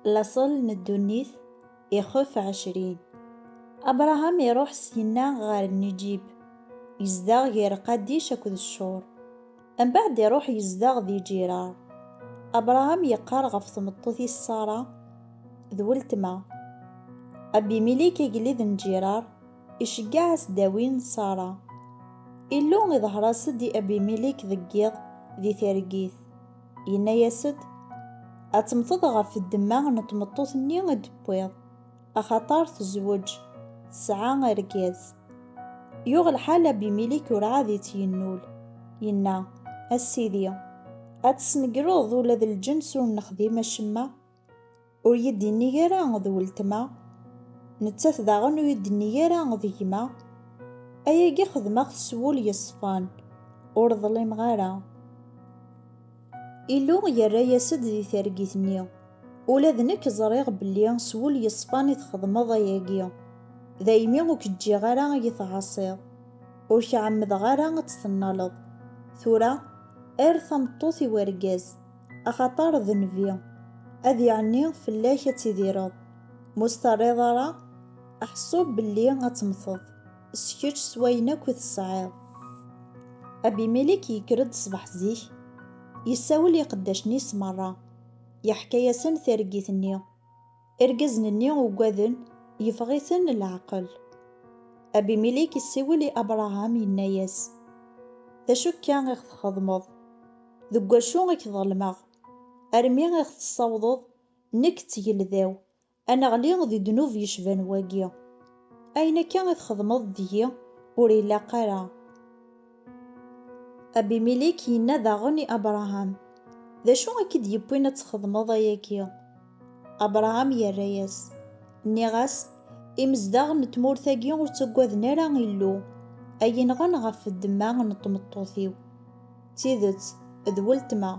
Laṣel n ddunit ixef ɛecrin. Abṛaham iṛuḥ syenna ɣer Nijib, yezdeɣ ger Qadic akked Cur. Mbeɛd iṛuḥ yezdeɣ di Ǧiṛaṛ. Abṛaham yeqqar ɣef tmeṭṭut-is Ṣara, d weltma. Abimilik agellid n Ǧiṛaṛ iceggeɛ-as ddawi n Ṣara. Illu iḍher-as-d i Abimilik deg yiḍ di targit. Yenna-yas-d, Ad temmteḍ ɣef ddemma n tmeṭṭut-nni i d-tewwiḍ, axaṭer tezweǧ, tesɛa argaz. Yuɣ lḥal Abimilik urɛad i tt-yennul, yenna, A Sidi, ad tesnegreḍ ula d lǧens ur nexdim acemma? Ur yi-d-innig ara d weltma, nettat daɣen ur yi-d-tennig ara d gma. Ayagi xedmeɣ-t s wul yeṣfan, ur ḍlimeɣ ara. Illu yerra-yas-d di targit-nni, Ula d nekk ẓriɣ belli s wul yeṣfan i txedmeḍ ayagi, daymi ur k-ǧǧiɣ ara ad yi-tɛaṣiḍ, ur k-ɛemmdeɣ ara ad tt-tennaleḍ. Tura, err tameṭṭut i wergaz. Axaṭer d nnbi, ad iɛenni fell-ak ad tidireḍ, ma ur s-terriḍ ara aḥeṣṣub belli ad temmteḍ s kečč s wayen akk i tesɛiḍ. Abimilek yekker-d ṣṣbeḥ zik, yessawel i iqeddacen-is merra, yeḥka-yasen targit-nni. Irgazen-nni uggaden, yeffeɣ-iten leɛqel. Abimilik yessiwel i Abṛaham, yenna-yas, D acu akka i ɣ-txedmeḍ? Deg wacu i k-ḍelmeɣ, armi i ɣ-tessawḍeḍ, nekk d tgelda-w, ad neɣli di ddnub yecban wagi? Ayen akka i txedmeḍ deg-i ur ilaq ara. Abimilik yenna daɣen i Abṛaham, D acu i k-id-yewwin ad txedmeḍ ayagi? Abṛaham yerra-yas, Nniɣ-as, Imezdaɣ n tmurt-agi ur ttaggaden ara Illu, a yi-nɣen ɣef ddemma n tmeṭṭut-iw. D tidet, d weltma,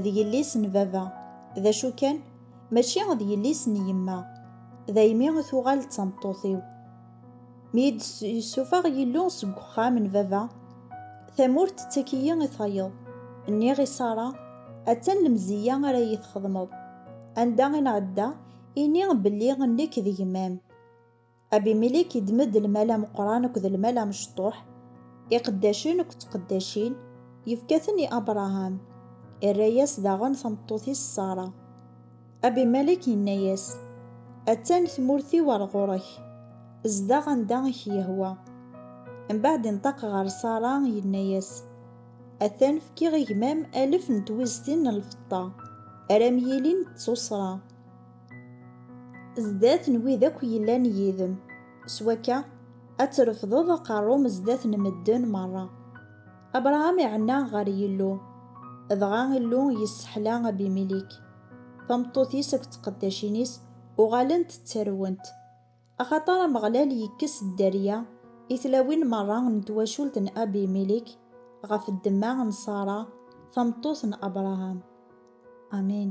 d yelli-s n baba, d acu kan, mačči d yelli-s n yemma, daymi i tuɣal d tameṭṭut-iw. Mi yi-d-yessuffeɣ Yillu seg uxxam n baba, tamurt tettak-iyi i tayeḍ. Nniɣ i Ṣara, Attan lemzeyya ara iyi-txedmeḍ. Anda i nɛedda, ini belli nekk d gma-m. Abimilik iddem-d lmal ameqqran akked lmal amecṭuḥ, iqeddacen akked tqeddacin, yefka-ten i Abṛaham, irra-yas daɣen tameṭṭut-is Ṣara. Abimelek yenna-yas, Attan tmurt-iw ɣer ɣur-k, zdeɣ anda i k-yehwa. Mbeɛd inṭeq ɣer Ṣara, yenna-yas, Atan fkiɣ i gma-m alef n twiztin n lfeṭṭa, ara m-yilin d tuṣṣra, zdat n wid akk yellan yid-m, s wakka, ad trefdeḍ aqerru-m zdat n medden merra. Abṛaham iɛenna ɣer Yillu, dɣa Illu yesseḥla Abimelek. Tameṭṭut-is akked tqeddacin-is uɣalent ttarwent, axaṭer Ameɣlal yekkes dderya i tlawin merra n twacult n Abimilek ɣef ddemma n Ṣara, tameṭṭut n Abṛaham. Amin.